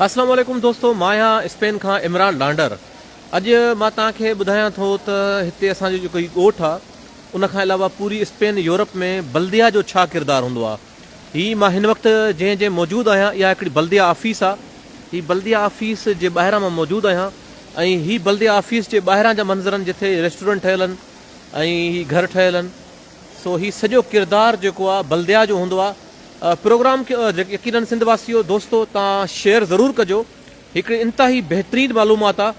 السلام عليڪم دوستو مان آهيان اسپين کان عمران ڏانڊر اڄ مان توهان کي ٻڌايان ٿو ته هتي اسان جو جيڪو هي ڳوٺ آهي ان کان علاوه پوري اسپين يورپ ۾ بلديه جو ڇا ڪردار هوندو آهي هي مان هن وقت جنهن جي موجود آهيان اها هڪڙي بلديه آفيس آهي هي بلديه آفيس جي ٻاهران مان موجود آهيان ۽ هي بلديه آفيس جي ٻاهران جا منظر آهن جتي ريسٽورنٽ ٺهيل آهن ۽ هي گهر ٺهيل آهن سو هي سڄو ڪردار جيڪو آ بلديا جو هوندو آ پروگرام کي يقينن سنڌ واسيو دوستو تان شيئر ضرور ڪجو هڪڙي انتهائي بهترين معلومات آ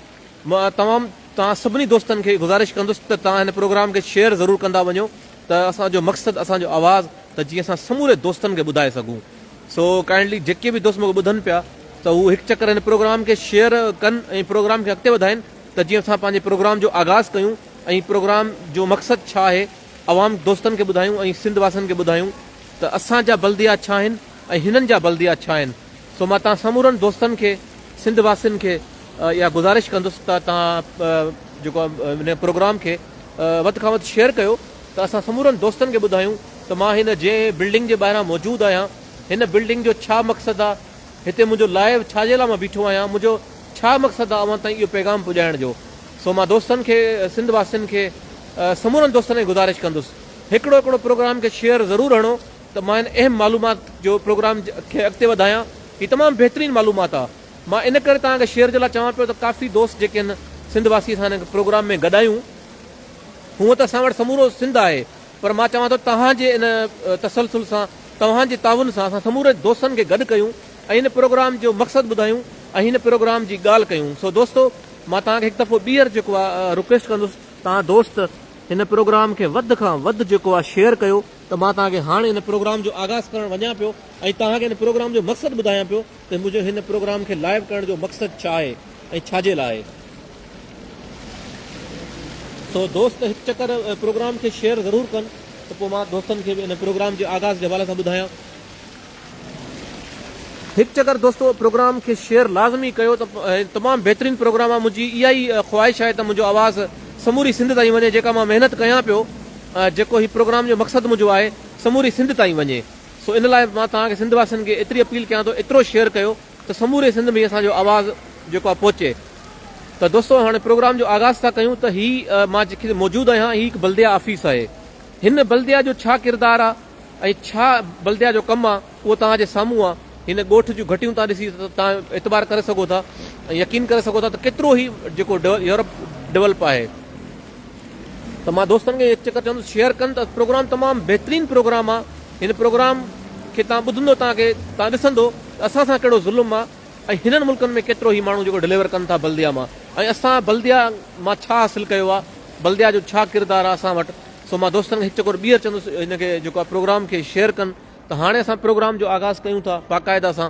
مان تمام تان سڀني دوستن کي گذارش ڪندس ته تان هن پروگرام کي شيئر ضرور ڪندا وڃو ته اسان جو مقصد اسان جو آواز ته جي اسان سموري دوستن کي ٻڌائي سگهون سو ڪائنڊلي جيڪي به دوست مونکي ٻڌن پيا ته هو هڪ چڪر هن پروگرام کي شيئر ڪن ۽ پروگرام کي اڳتي وڌائين. ته جيئن اسان پنهنجي پروگرام جو آغاز ڪيون ۽ پروگرام جو مقصد ڇا آهي عوام دوستن کي ٻڌايون ۽ سنڌ واسين کي ٻڌايون ته اسان جا بلديات ڇا آهن ۽ هنن جا بلديات ڇا آهن سو مان توهان سمورن دوستن کي سنڌ واسين کي اها گذارش ڪندس ته توهان جيڪو هن پروگرام کي وڌ کان وڌ شيئر ڪيو ته اسان سمورن دوستن کي ٻڌايون ته مان هن جنهن بلڊنگ جي ٻاهران موجود آهيان هن بلڊنگ جو ڇا مقصد آهي هتي منهنجو لائيو ڇا جي لاء مان بيٺو آهيان، منهنجو ڇا مقصد آهي اوهان تائين اهو پيغام پڄائڻ جو، سو مان دوستن کي، سنڌ واسين کي، سمورن دوستن کي گذارش ڪندس هڪڙو هڪڙو پروگرام کي شيئر ضرور هڻو ته مان هن اهم معلومات جو پروگرام کي اڳتي وڌايان، هي تمام بهترين معلومات آهي، مان ان ڪري توهان کي شيئر جي لاء چوان پيو ته ڪافي دوست جيڪي هن سنڌ واسي سان هن پروگرام ۾ گڏايون، هونئن ته اسان وٽ سمورو سنڌ آهي. پر مان چوان ٿو توهان جي ان تسلسل سان توهان جي تعاون سان اسان سمورن دوستن کي گڏ ڪيون ۽ هن پروگرام جو مقصد ٻڌايون ۽ هن پروگرام جي ڳالهه ڪيون سو دوستو مان توهان کي هڪ دفعو ٻيهر جيڪو آ رڪويسٽ ڪندس توهان دوست هن پروگرام کي وڌ کان وڌ جيڪو آ شيئر ڪيو ته مان توهان کي هاڻ هن پروگرام جو آغاز ڪرڻ وڃان پيو ۽ توهان کي هن پروگرام جو مقصد ٻڌايان پيو. ته منهنجو هن پروگرام کي لائيو ڪرڻ جو مقصد ڇا آهي ۽ ڇا جي لاء آهي. سو دوست هڪ چڪر پروگرام کي شيئر ضرور ڪن ته پوء مان دوستن کي به ان پروگرام جي آغاز جي حوالي سان ٻڌايان. هڪ چڪر دوستو پروگرام کي شيئر لازمي ڪيو ته تمام بهترين پروگرام آهي منهنجي اها ئي خواهش آهي ته منهنجو آواز سموري سنڌ تائين وڃي جيڪا مان محنت ڪيان پيو جيڪو هي پروگرام جو مقصد منهنجو آهي سموري سنڌ تائين وڃي. سو ان لاء مان توهان کي سنڌ واسين کي ايتري اپيل ڪيان ٿو ايترو شيئر ڪيو ته سموري سنڌ ۾ اسان جو آواز جيڪو آهي پهچي ته دوستو هاڻي پروگرام جو آغاز ٿا ڪيون ته هي مان جتي موجود آهيان هي هڪ بلديه آفيس آهي هن بلديه جو ڇا ڪردار آهي ۽ ڇا بلديه جو ڪم آهي اهو توهان جي سامهون آهي هن ڳوٺ جون گهٽيون توهان ڏسي توهان اعتبار ڪري سگهو ٿا ۽ يقين ڪري سگهو ٿا ته ڪيترو هي جيڪو يورپ ڊولپ آهي ته مان دوستن کي هڪ چڪر چوندس شيئر ڪن ته پروگرام تمام بهترين پروگرام آ هن پروگرام کي تان ٻڌندو تان کي تان ڏسندو ته اسان سان ڪهڙو ظلم آ ۽ هنن ملڪن ۾ ڪيترو هي ماڻهو جيڪو ڊليور ڪن ٿا بلديا مان ۽ اسان بلديا مان ڇا حاصل ڪيو آ بلديا جو ڇا ڪردار آ اسان وٽ سو مان دوستن کي هڪ چڪر ٻيهر چوندس هن کي جيڪو آ پروگرام کي شيئر ڪن ته هاڻي اسان پروگرام جو آغاز ڪيون ٿا باقاعده سان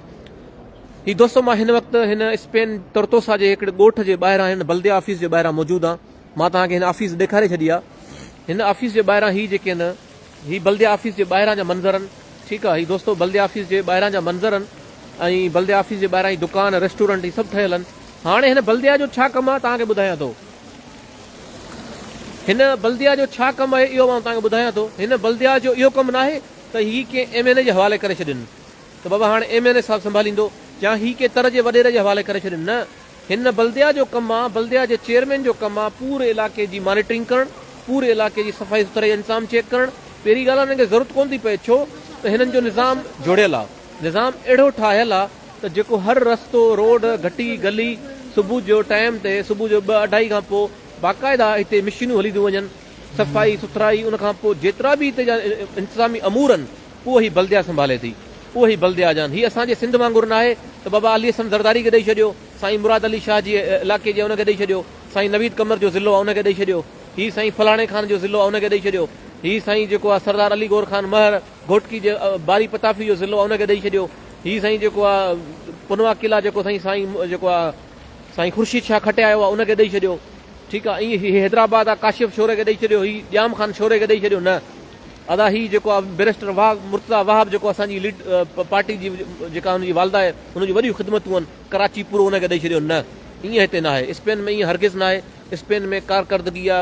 هي دوستو مان هن وقت هن اسپين ترتوسا جي هڪڙي ڳوٺ جي ٻاهران هن بلديا آفيس جي ٻاهران موجود آ مان توهان کي هن آفيس ڏيکاري ڇڏي آ هن آفيس جي ٻاهران هي جيڪي هن هي بلديه آفيس جي ٻاهران جا منظر ان ٺيڪ آ هي دوستو بلديه آفيس جي ٻاهران جا منظر ان ۽ بلديه آفيس جي ٻاهران هي دڪان ريسٽورنٽ هي سڀ ٺهيل ان هاڻي هن بلديه جو ڇا ڪم آ توهان کي ٻڌايان ٿو هن بلديا جو ڇا ڪم آهي اهو آئون تانکي ٻڌايان ٿو هن بلديا جو اهو ڪم ناهي ته هي ڪنهن ايم اين اي جي حوالي ڪري ڇڏين ته بابا هاڻي ايم اين اي صاحب سنڀاليندو يا هي ڪنهن تر جي وڏيري جي حوالي ڪري ڇڏين نه هن نه بلديا جو ڪم آ بلديا جي چيئرمين جو ڪم آ پوري علاقي جي مانيٽرنگ ڪرڻ پوري علاقي جي صفائي سٿرائي انتظام چيڪ ڪرڻ پهرين ڳالهه هنن کي ضرورت ڪون ٿي پئي ڇو ته هنن جو نظام جڙيل آ نظام اهڙو ٺاهيل آ ته جيڪو هر رستو روڊ گهٽي گلي صبح جو ٽائيم تي صبح جو ٻه اڍائي کان پوء باقاعده هتي مشينون هلينديون وڃن صفائي سٿرائي ان کان پوء جيترا به هتي جا انتظامي امور ان اهو ئي بلديا سنڀالي ٿي، اهو ئي بلديا جان، هي اسان جي سنڌ وانگر ناهي ته بابا علي حسن زرداري کي ڏئي ڇڏيو، سائين مراد علي شاهه جي علائقي جي آ ان کي ڏئي ڇڏيو، سائين نويد قمر جو ضلعو آ ان کي ڏئي ڇڏيو، هي سائين فلاڻي خان جو ضلعو آ ان کي ڏئي ڇڏيو، هي سائين جيڪو آ سردار علي گور خان مهر گهوٽڪي جي باري پتافي جو ضلعو آ ان کي ڏئي ڇڏيو، هي سائين جيڪو آ پنوا قلعا جيڪو سائين سائين جيڪو آ سائين خورشيد شاهه کٽيايو آ ان کي ڏئي ڇڏيو، ٺيڪ آ، ائين هي حيدرآباد آ ڪاشف شوري کي ڏئي ڇڏيو، هي ڄام خان شوري کي ڏئي ڇڏيو، نه! ادا هي جيڪو آ بيرسٽر واهه مرتضيٰ واهه به جيڪو اسان جي ليڊ پارٽي جي جيڪا هن جي والده آهي هن جون وڏيون خدمتون هن ڪراچي پورو هن کي ڏئي ڇڏيو نه ائين هتي نه آهي اسپين ۾ ائين هرگز نه آهي اسپين ۾ ڪارڪردگي آ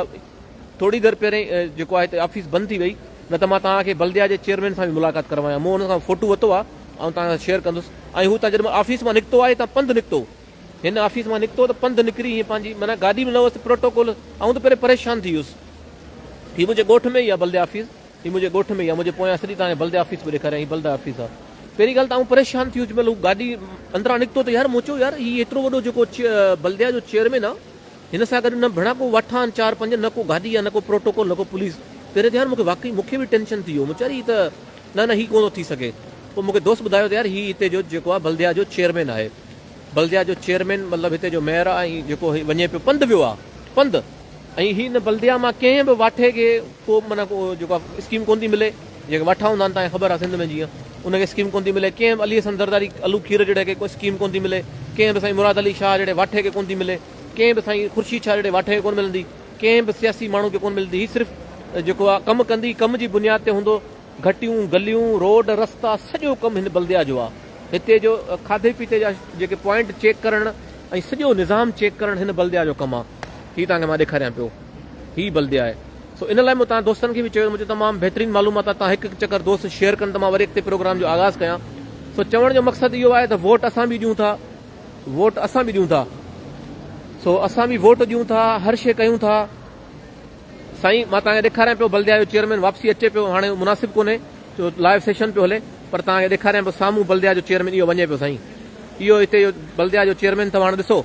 ٿوري دير پهرين جيڪو آهي هتي آفيس بند ٿي وئي نه ته مان توهان کي بلديا جي چيئرمين سان به ملاقات ڪروايان مون هن سان فوٽو وتو آ آئون توهان سان شيئر ڪندس ۽ هو تان جڏهن آفيس مان نڪتو آهي تان پنڌ نڪتو هن آفيس مان نڪتو ته پنڌ نڪري ائين پنهنجي معنيٰ گاڏي ۾ لهوس ته پروٽوڪول آئون ته پهرين پريشان ٿي ويس هي منهنجي ڳوٺ ۾ ئي آهي بلديه آفيس هي منهنجي ڳوٺ ۾ ئي آهي منهنجي پويان سڄي تان بلديه آفيس پيو ڏيکاريان هي بلديه آفيس آهي پهرين ڳالهه ته آئون پريشان ٿي ويس جنهن مهل هو گاڏي اندران نڪتو ته يار مون چيو يار هي ايترو وڏو جيڪو بلديه جو چيئرمين آهي هن سان گڏ نه ڀيڻا ڪو وٺ آهن چار پنج نه ڪو گاڏي آهي نه ڪو پروٽوڪول نه ڪو پوليس پهرين ته يار مونکي واقعي مونکي به ٽينشن ٿي ويو مون چيو يار هي ته نه نه هي ڪونه ٿو ٿي سگهي پوء مونکي دوست ٻڌايو ته يار هي هتي جو جيڪو آهي بلديه جو چيئرمين آهي بلديا جو چيئرمين مطلب هتي جو ميئر آهي ۽ جيڪو هي وڃي پيو پنڌ ويو آهي پنڌ ۽ هي ان بلديا مان ڪنهن به واٺي کي ڪو معنيٰ ڪو جيڪو آهي اسڪيم ڪونه ٿي ملي جيڪي واٺا هوندا آهن تهان خبر آهي سنڌ ۾ جيئن ان کي اسڪيم ڪونه ٿي ملي ڪنهن به علي حسن زرداري علو کير جهڙي کي ڪو اسڪيم ڪونه ٿي ملي ڪنهن به سائين مراد علي شاهه جهڙي واٺي کي ڪونه ٿي ملي ڪنهن به سائين خورشيد شاهه جهڙي واٺي کي ڪونه ملندي ڪنهن به سياسي ماڻهو کي ڪونه ملندي هي صرف جيڪو آهي ڪم ڪندي ڪم جي بنياد تي هوندو گهٽيون، گليون، روڊ، رستا سڄو ڪم هن بلديا جو آ. هتي جو کاڌي پيتي جا جيڪي پوائنٽ چيڪ ڪرڻ ۽ سڄو نظام چيڪ ڪرڻ هن بلديا جو ڪم آ. هي توهان کي مان ڏيکاريان پيو. هي بلديا آهي. سو ان لاء مون توهان دوستن کي به چيو مون چيو تمام بهترين معلومات آ توهان هڪ هڪ چڪر دوست شيئر ڪن ته مان وري اڳتي پروگرام جو آغاز ڪيان. سو چوڻ جو مقصد اهو آهي ته ووٽ اسان به ڏيون ٿا. ووٽ اسان به ڏيون ٿا. سو اسان به ووٽ ڏيون ٿا هر شي ڪيون ٿا. سائين مان توهان کي ڏيکاريان پيو بلديا جو چيئرمين واپسي اچي پيو هاڻي مناسب ڪونهي ڇو لائيو سيشن پيو هلي پر توهان کي ڏيکاريان پيو سامهون بلديا جو چيئرمين اهو وڃي پيو سائين اهو هتي جو بلديا جو چيئرمين اٿو هاڻي ڏسو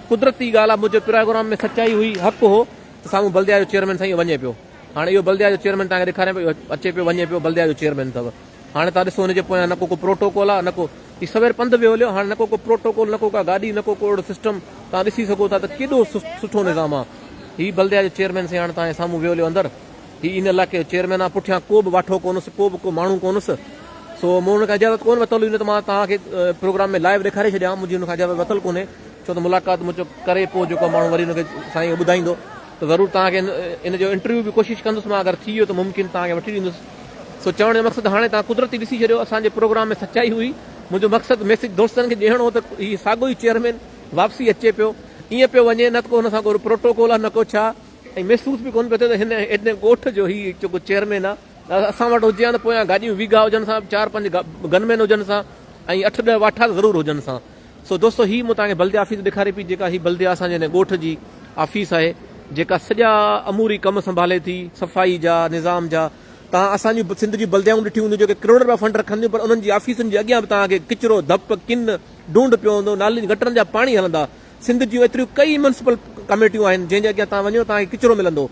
قدرتي ڳالهه آ منهنجو پراگرام ۾ سچائي هئي حق هو ته سامهون بلديا جو چيئرمين سائين اهو وڃي پيو هاڻي اهو بلديا جو چيئرمين توهان کي ڏيکاريان پيو اچي پيو وڃي پيو بلديا جو چيئرمين اٿو هاڻي تان ڏسو ان جي پويان نه ڪو ڪو پروٽوڪول آ نه ڪو هي سوير پنڌ به هليو هاڻي نه ڪو ڪو پروٽوڪول نه ڪو ڪا گاڏي نه ڪو ڪو اهڙو سسٽم تان ڏسي سگهو ٿا ته ڪيڏو سٺو نظام آ هي بلديا جو چيئرمين سي هاڻي تان جي سامهون ويو هليو اندر هي ان علائقي جو چيئرمين آ پٺيان ڪو به واٺو ڪونس ڪو به ڪو ماڻهو ڪونس سو مون ان کان اجازت ڪون وتل هئي نه ته مان تان کي پروگرام ۾ لائيو ڏيکاري ڇڏيان منهنجي ان کان اجازت وتل ڪونهي ڇو ته ملاقات مون چو ڪري پو جيڪو ماڻهو وري ان کي سائين ٻڌائيندو ته ضرور تان کي ان جو انٽرويو به ڪوشش ڪندس مان اگر ٿي ويو ته ممڪن تان کي وٺي ڏيندس سو چوڻ جو مقصد هاڻي توهان قدرتي ڏسي ڇڏيو اسان جي پروگرام ۾ سچائي هئي منهنجو مقصد ميسج دوستن کي ڏيڻ هو ته هي ساڳو ئي چيئرمين واپسي اچي پيو ائين پيو وڃي نه ته ڪو هن سان ڪو پروٽوڪول آهي نه ڪو ڇا ۽ محسوس به ڪونه پيو ٿئي ته هن ايڏي ڳوٺ جو هي جيڪو چيئرمين آهي اسان وٽ هجي ها ته پويان گاڏيون ويگها هجن سان چار پنج گنمين هجن سان ۽ اٺ ڏهه واٺا ته ضرور هجن سان سو دوستو هي مون توهان کي بلديه آفيس ڏيکاري پئي جيڪا هي بلديه اسان جي هن ڳوٺ جي آفيس آهي جيڪا سڄا اموري ڪم سنڀالي ٿي صفائي جا نظام جا توهان اسان جون سنڌ جون بلديائون ڏٺيون هونديون جيڪي ڪروڙ رپيا فنڊ رکن ٿيون پر انهن جي آفيسن جي اڳيان به توهان کي ڪچرو ڌپ ڪن ڍونڍ پيو هوندو نالين گٽرن جا پاڻي هلندا سنڌ جون ايتريون ڪئي ميونسپل ڪميٽيون آهن جنهن جي اڳيان توهان وڃو توهان کي ڪچرو ملندو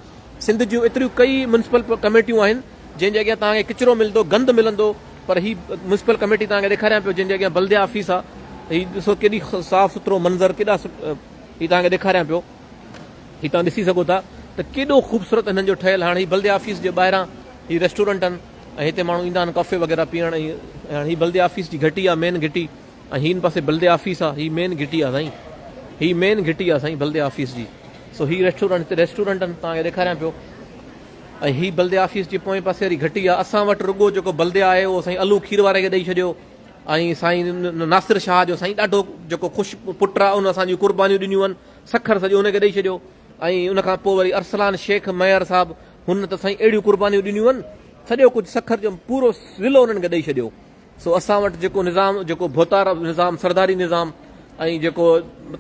سنڌ جون ايتريون ڪئي ميونسپل ڪميٽيون آهن جنهن جي اڳيان توهان کي ڪچرو ملندو، گند ملندو پر هي ميونسپل ڪميٽي توهان کي ڏيکاريان پيو جنهن جي اڳيان بلديه آفيس آ ته هي ڏسو ڪيڏي صاف سٿرو منظر ڪيڏا هي توهان کي ڏيکاريان پيو هي توهان ڏسي سگهو ٿا ته ڪيڏو خوبصورت هنن جو ٺهيل هاڻ هي بلديه آفيس جي ٻاهران هي ريسٽورنٽ آهن ۽ هتي ماڻهو ايندا آهن ڪافي وغيره پيئڻ ۽ هاڻ هي بلديه آفيس جي گهٽي آ مين گهٽي ۽ هي هن پاسي بلديه آفيس آ هي مين گهٽي آ سائين هي مين گهٽي آ سائين بلديه آفيس جي سو هي ريسٽورنٽ هتي ريسٽورنٽ آهن توهان کي ڏيکاريان پيو ۽ هي بلديه آفيس جي پوئين پاسي واري گهٽي آ، اسان وٽ رڳو جيڪو بلديه آهي اهو سائين علو کير واري کي ڏئي ڇڏيو ۽ سائين ناصر شاهه جو سائين ڏاڍو جيڪو خوش پٽ آ ان اسان جون قربانيون ڏنيون آهن سکر سڄو ان کي ڏئي ڇڏيو ۽ ان کان پوء وري ارسلان شيخ ميهر صاحب هن ته سائين اهڙيون قربانيون ڏنيون آهن سڄو ڪجهه سکر جو پورو ضلعو انهن کي ڏئي ڇڏيو. سو اسان وٽ جيڪو نظام جيڪو ڀوتار نظام سرداري نظام ۽ جيڪو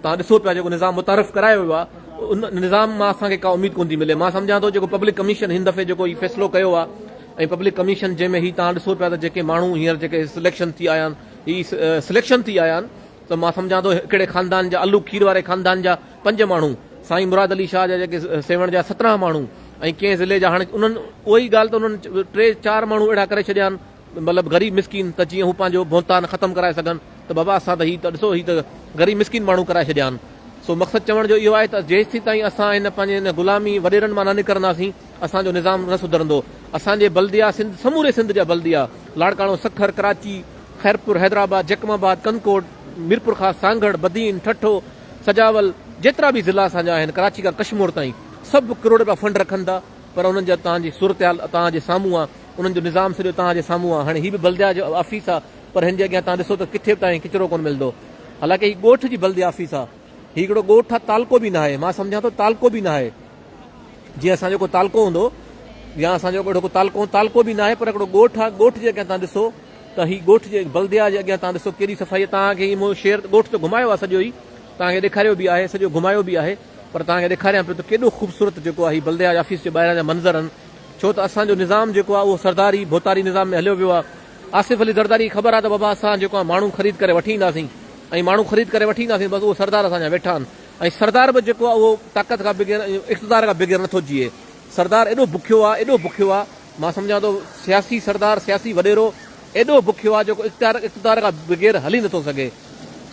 تان ڏسو پيا جيڪو نظام متعارف ڪرايو ويو آهي ان نظام مان اسان کي ڪا اميد ڪون ٿي ملي مان سمجهان ٿو جيڪو پبلڪ ڪميشن هن دفعي جيڪو هي فيصلو ڪيو آهي ۽ پبلڪ ڪميشن جنهن ۾ هي تان ڏسو پيا ته جيڪي ماڻهو هينئر جيڪي سليڪشن ٿي آيا آهن هي سليڪشن ٿي آيا آهن ته مان سمجهان ٿو هڪڙي خاندان جا الو کير واري خاندان جا پنج ماڻهو سائين مراد علي شاهه جا جيڪي سيوهڻ جا سترهن ماڻهو ۽ ڪنهن ضلعي جا هاڻي انهن اهي ڳالهه ته انهن ٽي چار ماڻهو اهڙا ڪري ڇڏيا آهن مطلب غريب مسڪين ته جيئن هو پنهنجو ڀونتان ختم ڪرائي سگهن ته بابا اسان ته هي ته ڏسو هي ته غريب مسڪين ماڻهو ڪرائي ڇڏيا آهن سو مقصد چوڻ جو اهو آهي ته جيستي تائين اسان هن پنهنجي هن غلامي وڏيرن مان نه نڪرنداسين اسان جو نظام نه سڌرندو اسان جي بلديا سنڌ سموري سنڌ جا بلديا لاڙڪاڻو سکر ڪراچي خيرپور حيدرآباد جيڪم آباد ڪنڪوٽ ميرپورخاص سانگهڙ بدين ٺٺو سجاول جيترا به ضلع اسان جا آهن ڪراچي کان ڪشمور تائين سڀ ڪروڙ رپيا فنڊ رکن ٿا پر انهن جي اتان جي صورتحال توهان جي سامهون آ، انهن جو نظام سڄو توهان جي سامهون آ، هاڻي هي به بلديا جو آفيس آ، پر هن جي اڳيان توهان ڏسو ته ڪٿي به توهان کي ڪچرو ڪونه ملندو، حالانڪه هي ڳوٺ جي بلديا آفيس آ، هي هڪڙو ڳوٺ آ، تعلقو به ناهي، مان سمجهان ٿو تعلقو به ناهي، جيئن اسان جو ڪو تعلقو هوندو يا اسان جو اهڙو ڪو تعلقو هوندو، تعلقو به ناهي پر هڪڙو ڳوٺ آ، ڳوٺ جي اڳيان توهان ڏسو ته هي ڳوٺ جي بلديا جي اڳيان توهان ڏسو ڪهڙي صفائي آ، توهان کي مون شهر ڳوٺ ته گهمايو آ سڄو هي، توهان کي ڏيکاريو به آهي، سڄو گهمايو به آهي. پر توهان کي ڏيکاريان پيو ته ڪيڏو خوبصورت جيڪو آهي هي بلدياج آفيس جي ٻاهران جا منظر آهن ڇو ته اسان جو نظام جيڪو آهي اهو سرداري ڀوتاري نظام ۾ هليو ويو آهي آصف علي زرداري کي خبر آهي ته بابا اسان جيڪو آهي ماڻهو خريد ڪري وٺي اينداسين ۽ ماڻهو خريد ڪري وٺي اينداسين بس اهو سردار اسان جا ويٺا آهن ۽ سردار به جيڪو آهي اهو طاقت کان بغير ۽ اقتدار کان بغير نٿو جيئي سردار ايڏو بکيو آهي ايڏو بکيو آهي مان سمجهان ٿو سياسي سردار سياسي وڏيرو ايڏو بکيو آهي جيڪو اقتدار اقتدار کان بغير هلي نٿو سگهي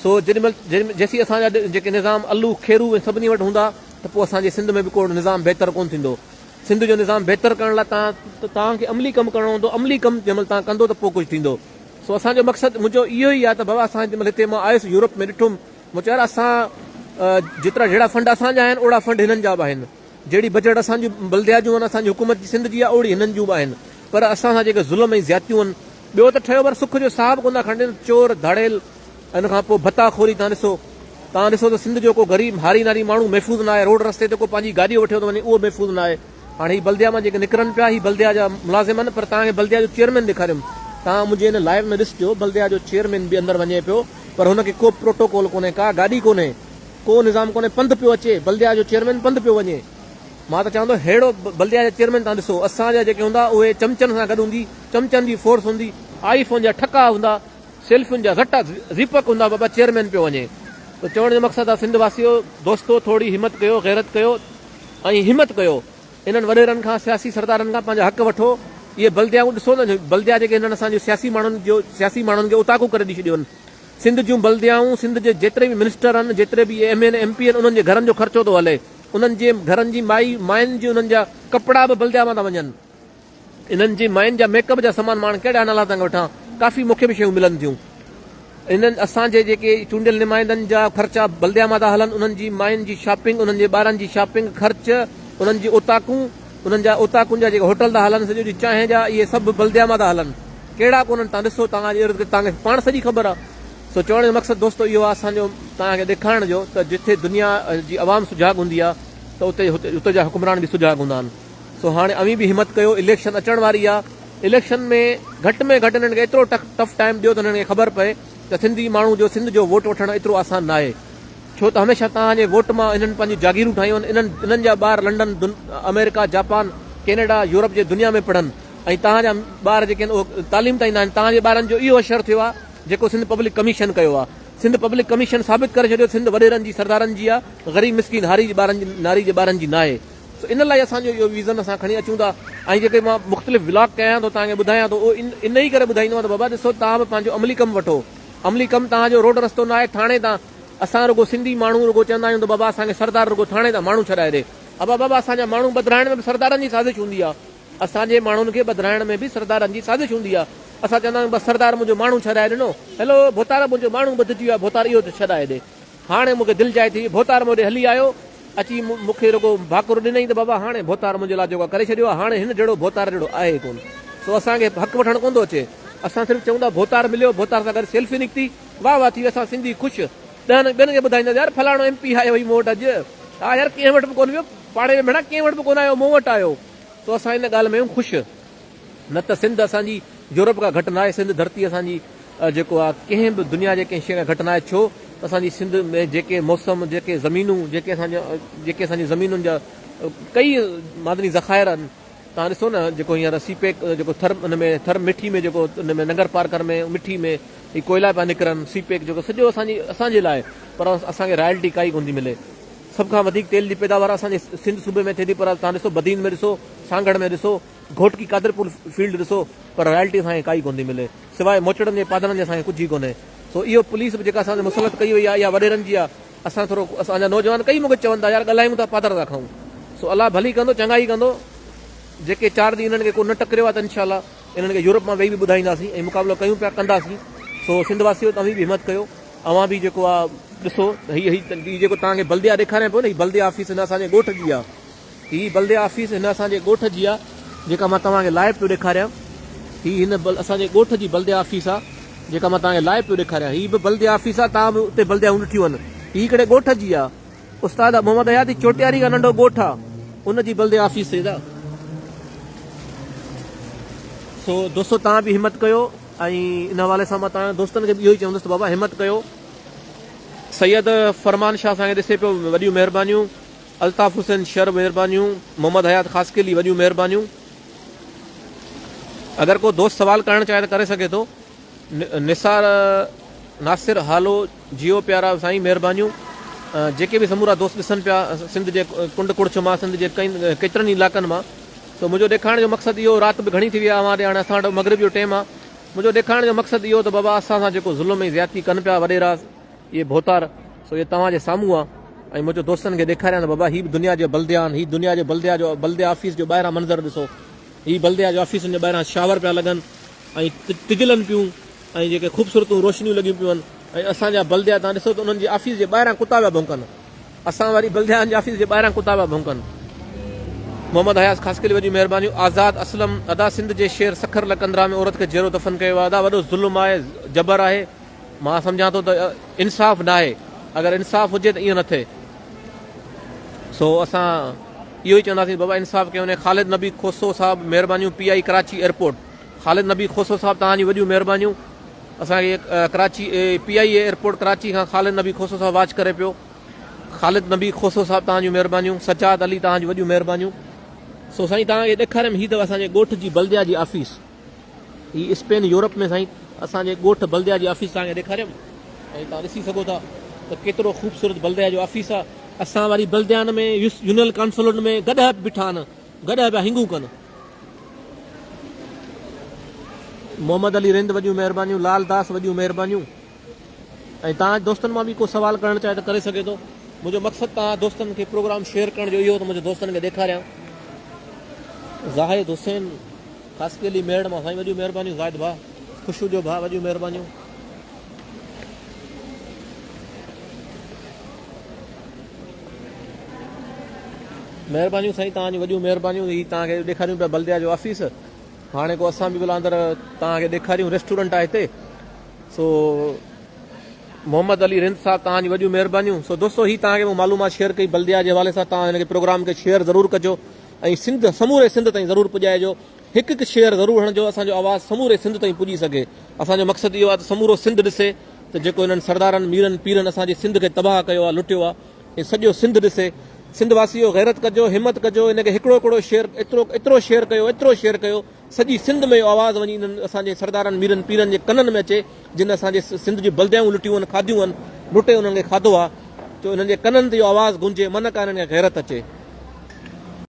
سو جيڏي مھل جيسين اسان جا جيڪي نظام الو، کيرو ۽ سڀني وٽ ھوندا ته پوء اسان جي سنڌ ۾ به ڪو نظام بھتر ڪونه ٿيندو. سنڌ جو نظام بھتر ڪرڻ لاء توھان کي عملي ڪم ڪرڻو ھوندو، عملي ڪم جنھن مھل توھان ڪندو ته پوء ڪجھ ٿيندو. سو اسان جو مقصد منھنجو اھو ئي آھي ته بابا اسان جيڏي مھل ھتي مان آيس يورپ ۾ ڏٺم مون چيو يار اسان جيترا جھڙا فنڊ اسان جا آھن اوھڙا فنڊ ھنن جا به آھن. جهڙي بجيٽ اسان جي بلديات جون ۽ اسان جي حڪومت جي سنڌ جي آهي اوڙي هنن جون به آهن پر اسان سان جيڪي ظلم ۽ زيادتيون هن ٻيو ته ٺهيو پر سک جو ساهه به ڪونه ٿا کڻن چور ڌاڙيل ان کان پوء ڀتا خوري تان ڏسو تان ڏسو ته سنڌ جو ڪو غريب هاري ناري ماڻهو محفوظ نه آهي روڊ رستي تي ڪو پنهنجي گاڏيو وٺيو ٿو وڃي اهو محفوظ نه آهي هاڻي هي بلديا مان جيڪي نڪرن پيا هي بلديا جا ملازم آهن پر تان کي بلديا جو چيئرمين ڏيکاريم تان منهنجي ان لائيو ۾ ڏسجو بلديا جو چيئرمين به اندر وڃي پيو پر هن کي ڪو پروٽوڪول ڪونهي ڪا گاڏي ڪونهي ڪو نظام ڪونهي پنڌ پيو اچي بلديا جو چيئرمين پنڌ پيو وڃي مان ته چوان ٿو ههڙو بلديا جا چيئرمين تان ڏسو اسان جا جيڪي هوندا اهي چمچن سان گڏ هوندي چمچن جي فورس هوندي آئي فون جا ٺڪا هوندا سيلفين جا زٽا زيپڪ هوندا بابا چيئرمين پيو وڃي ته چوڻ جو مقصد آ سنڌ واسيو دوستو ٿورڙي همت ڪيو غيرت ڪيو ۽ همت ڪيو انهن وڏيرن کان سياسي سردارن کان پنهنجا حق وٺو اهي بلديائون ڏسو نه بلديا جيڪي هنن اسان جي سياسي ماڻهن جو سياسي ماڻهن کي اوطاقون ڪري ڏئي ڇڏيون سنڌ جون بلديائون، سنڌ جي جيتري به منسٽر آهن، جيتري به ايم اين، ايم پي آهن، انهن جي گهرن جو خرچو ٿو هلي. انهن جي گهرن جي مائي، ماين جي انهن جا ڪپڙا به بلديا مان ٿا وڃن. انهن جي ماين جا ميڪ اپ جا سامان ماڻ ڪهڙا نالا ٿا وٺان. ڪافي مون کي به شيون ملن ٿيون. انهن اسان جي جيڪي چونڊيل نمائندن جا خرچا بلديا مان ٿا هلن، انهن جي ماين جي شاپنگ، انهن جي ٻارن جي شاپنگ، خرچ، انهن جي اوطاقون، انهن جا اوطاقن جا جيڪي هوٽل ٿا هلن، سڄو ڏينهن چانهه جا، اهي سڀ به بلديا مان ٿا هلن. ڪهڙا ڪونهن، تان ڏسو، توهان جي اردگرد توهان کي پاڻ سڄي خبر آ. سو چوڻ جو مقصد دوستو اهو آ اسان جو توهان کي ڏيکارڻ جو ته جتي دنيا جي عوام سجاڳ هوندي آ ته اتي اتي جا حڪمران به سجاڳ هوندا آهن. سو هاڻي اوهين به همت ڪيو، اليڪشن اچڻ واري آ، اليڪشن ۾ گهٽ ۾ گهٽ هنن کي ايترو ٽف ٽائيم ڏيو ته هنن کي خبر پئي ته سنڌي ماڻهو جو سنڌ جو ووٽ وٺڻ ايترو آسان ناهي. ڇو ته هميشه توهان جي ووٽ مان انهن پنهنجون جاگيرون ٺاهيون آهن، انهن انهن جا ٻار لنڊن، آمريڪا، جاپان، ڪينيڊا، يورپ جي دنيا ۾ پڙهن ۽ توهان جا ٻار جيڪي آهن اهو تعليم تائين نه آهن، توهان جي ٻارن جو اهو اشر ٿيو آهي جيڪو سنڌ پبلڪ ڪميشن ڪيو آهي، سنڌ پبلڪ ڪميشن ثابت ڪري ڇڏيو سنڌ وڏيرن جي سردارن جي آهي غريب مسڪين هاري جي ٻارن جي ناري جي ٻارن جي ناهي سو ان لاء اسان جو اهو ويزن اسان کڻي اچون ٿا ۽ جيڪي مان مختلف ولاگ ڪيان ٿو توهان کي ٻڌايان ٿو اهو ان انهي ڪري ٻڌائيندو آهيان ته بابا ڏسو توهان به پنهنجو عملي ڪم وٺو عملي ڪم توهان جو روڊ رستو نه آهي ٿاڻي تان اسان رڳو سنڌي ماڻهو رڳو چوندا آهيون ته بابا اسان کي سردار رڳو ٿاڻي تان ماڻهو ڇڏائي ڏي. ابا بابا اسان جا ماڻهو ٻڌرائڻ ۾ به سردارن جي سازش هوندي آهي. اسان جي ماڻهن کي ٻڌرائڻ ۾ به سردارن جي سازش هوندي آهي. اسان چوندا آهيون بس سردار منهنجو ماڻهو ڇڏائي ڏنو. هيلو ڀوتار منهنجو ماڻهو ٻڌجي ويو آهي ڀوتار اهو ته ڇڏائي ڏي. هاڻي مون کي دل جائي ٿي وئي. ڀوتار مون ڏي هلي آيو. اچي مون کي رڳو ڀاڪر ڏنائين ته بابا هاڻي ڀوتار منهنجي لاء جيڪو ڪري ڇڏيو آهي هاڻي هن جهڙو ڀوتار جهڙو آهي ئي ڪونه. سو اسان کي حق وٺڻ ڪونه ٿو اچي. اسان صرف چئون ٿا ڀوتار مليو ڀوتار سان گڏ سيلفي نڪتي. واھ واھ ٿي وئي اسان سنڌي خوش ڏهن ٻين کي ٻڌائيندا ته يار فلاڻو ايم پي آيو هئي مون وٽ اڄ ها يار ڪنهن وٽ به ڪونه ويو پاڙي ۾ ڀيڻا ڪنهن وٽ به ڪونه آيو مون وٽ آيو سو اسان ان ڳالهه ۾ آهيون خوش نه ته سنڌ اسان جي يورپ کان گهٽ ناهي سنڌ ڌرتي اسان جي جيڪو آ ڪنهن به دنيا جي ڪنهن شيء کان گهٽ ناهي ڇو ته اسان جي سنڌ ۾ جيڪي موسم جيڪي زمينون جيڪي اسان جا جيڪي اسان جي زمينن جا ڪئي معدني ذخائر آهن توهان ڏسو نه جيڪو هينئر سي پيڪ جيڪو ٿر ان ۾ ٿر مٺي ۾ جيڪو ان ۾ ننگر پارڪر ۾ مٺي ۾ هي ڪوئلا پيا نڪرن سي پيڪ جيڪو سڄو اسان جي اسان جي لاء پر اسان کي رائلٽي ڪائي ڪونه ٿي ملي سڀ کان وڌيڪ تيل جي پيداوار اسان جي سنڌ صوبي ۾ ٿئي ٿي پر توهان ڏسو بدين ۾ ڏسو سانگهڙ ۾ ڏسو گهوٽڪي قادرپور فيلڊ ڏسو پر رائلٽي اسان کي ڪائي ڪونه ٿي ملي سواء موچڙن جي پادرن جي اسان کي ڪجهه ئي ڪونهي سو اهو پوليس به جيڪا اسان تي مسلط ڪئي وئي آهي اها وڏيرن جي آهي اسان ٿورو اسان جا نوجوان ڪئي مونکي چون ٿا يار ڳالهايون ٿا پادر ٿا کڻون سو الله ڀلي ڪندو چڱا ئي ڪندو جيڪي چار ڏينهن انهن کي ڪو نه ٽڪريو آهي ته انشاء الله انهن کي يورپ مان ويهي به ٻڌائينداسين ۽ مقابلو ڪيون پيا ڪنداسين سو سنڌ واسيو توهين به همت ڪيو اوهان به جيڪو آهي ڏسو هي هي جيڪو توهان کي بلديه ڏيکاريان پيو نه هي بلديه آفيس هن اسان جي ڳوٺ جي آهي هي بلديه آفيس هن اسان جي ڳوٺ جي آ جيڪا مان توهان کي لائيو پيو ڏيکاريان هي هن اسان جي ڳوٺ جي بلديه آفيس آ جيڪا مان توهان کي لائيو پيو ڏيکاريان هي به بلديه آفيس آ توهان به اتي بلديائون ڏٺيون آهن هي ڪهڙي ڳوٺ جي آ استاد محمد حياتي چوٽياري کان ننڍو ڳوٺ آ ان جي بلديه آفيس سيد آ سو دوستو توهان به همت ڪيو ۽ ان حوالي سان مان توهان دوستن کي به اهو ئي چوندس ته بابا همت ڪيو سيد فرمان شاهه اسان کي ڏسي پيو وڏيون مهربانيون الطاف حسين شر مھربانيون محمد حيات خاصخيلي وڏيون مھربانيون اگر ڪو دوست سوال ڪرڻ چاھي ته ڪري سگھي ٿو نثار ناصر ھالو جيو پيارا سائين مھربانيون جيڪي به سمورا دوست ڏسن پيا سنڌ جي ڪنڊ ڪڙڇ مان سنڌ جي ڪيترن ئي علائقن مان سو منھنجو ڏيکارڻ جو مقصد اھو رات به گھڻي ٿي وئي آھي اوھان ڏي ھاڻي اسان وٽ مغرب جو ٽيم آھي منھنجو ڏيکارڻ جو مقصد اھو ته بابا اسان سان جيڪو ظلم ۽ زيادتي ڪن پيا وڏيرا اهي ڀوتار سو اهي توهان جي سامهون آ ۽ منهنجو دوستن کي ڏيکاريان ته بابا هي به دنيا جا بلديا آهن هي دنيا جي بلديا جو بلديا آفيس جو ٻاهران منظر ڏسو هي بلديا جي آفيسن جي ٻاهران شاور پيا لڳن ۽ ٽجلن پيون ۽ جيڪي خوبصورتون روشنيون لڳيون پيون ۽ اسان جا بلديا تان ڏسو ته انهن جي آفيس جي ٻاهران ڪتا پيا ڀونڪن اسان واري بلديا جي آفيس جي ٻاهران ڪتا پيا ڀونڪن محمد حياس خاصخيلي وڏيون مهربانيون آزاد اسلم ادا سنڌ جي شير سکر لڪندرا ۾ عورت کي جيرو دفن ڪيو ويو آهي ادا وڏو ظلم آهي جبر آهي مان سمجهان ٿو ته انصاف ناهي، اگر انصاف هجي ته ائين نه ٿئي، سو اسان اهو ئي چونداسين بابا انصاف ڪيو وڃي، خالد نبي کوسو صاحب مهربانيون P I Karachi airport Khalid Nabi Khoso صاحب توهان جون وڏيون مهربانيون اسان کي Karachi P I A airport Karachi کان خالد نبي کوسو صاحب واچ ڪري پيو خالد نبي کوسو صاحب توهان جون مهربانيون سجاد علي توهان جون وڏيون مهربانيون سو سائين توهان کي ڏيکاريم هي اٿو اسان جي ڳوٺ جي بلديا جي آفيس هي اسپين يورپ ۾ سائين اسان جي ڳوٺ بلديا جي آفيس توهان کي ڏيکاريم ۽ توهان ڏسي سگهو ٿا ته ڪيترو خوبصورت بلديا جو آفيس آ. اسان واري بلديان ۾ يونيل ڪانسولٽ ۾ گڏهه به بيٺا آهن گڏهه پيا هنگون ڪن. محمد علي رند وڏيون مهربانيون لال داس وڏيون مهربانيون ۽ توهان دوستن مان به ڪو سوال ڪرڻ چاهي ته ڪري سگهي ٿو منهنجو مقصد توهان دوستن کي پروگرام شيئر ڪرڻ جو اهو ته منهنجو دوستن کي ڏيکاريان زاهد حسين خاصخيلي علي ميڙ مان سائين وڏيون مهربانيون زاهد ڀاء خوشو جو ڀاء وڏيون مهربانيون. مهربانيون سائين توهان جون وڏيون مهربانيون هي توهان کي ڏيکاريون پيا بلديا جو آفيس هاڻي ڪو اسان به بلا اندر توهان کي ڏيکاريون ريسٽورنٽ آهي هتي سو محمد علي رند صاحب توهان جون وڏيون مهربانيون سو دوستو هي توهان کي معلومات شيئر ڪئي بلديا جي حوالي سان توهان هن کي پروگرام کي شيئر ضرور ڪجو ۽ سنڌ سموري سنڌ تائين ضرور پڄائجو هڪ هڪ شيئر ضرور هڻجو اسان جو آواز سموري سنڌ تائين پڄي سگهي اسان جو مقصد اهو آهي ته سمورو سنڌ ڏسي ته جيڪو هنن سردارن ميرن پيرن اسان جي سنڌ کي تباهه ڪيو آهي لٽيو آهي هي سڄو سنڌ ڏسي سنڌ واسيو غيرت ڪجو همت ڪجو ان کي هڪڙو هڪڙو شيئر ايترو ايترو شيئر ڪيو ايترو شيئر ڪيو سڄي سنڌ ۾ اهو آواز وڃي انهن اسان جي سردارن ميرن پيرن جي ڪنن ۾ اچي جن اسان جي سنڌ جي بلديائون لٽيون آهن کاڌيون آهن لٽي انهن کي کاڌو آهي جو انهن جي ڪنن تي اهو آواز گونجي منڪا انهن کي غيرت اچي.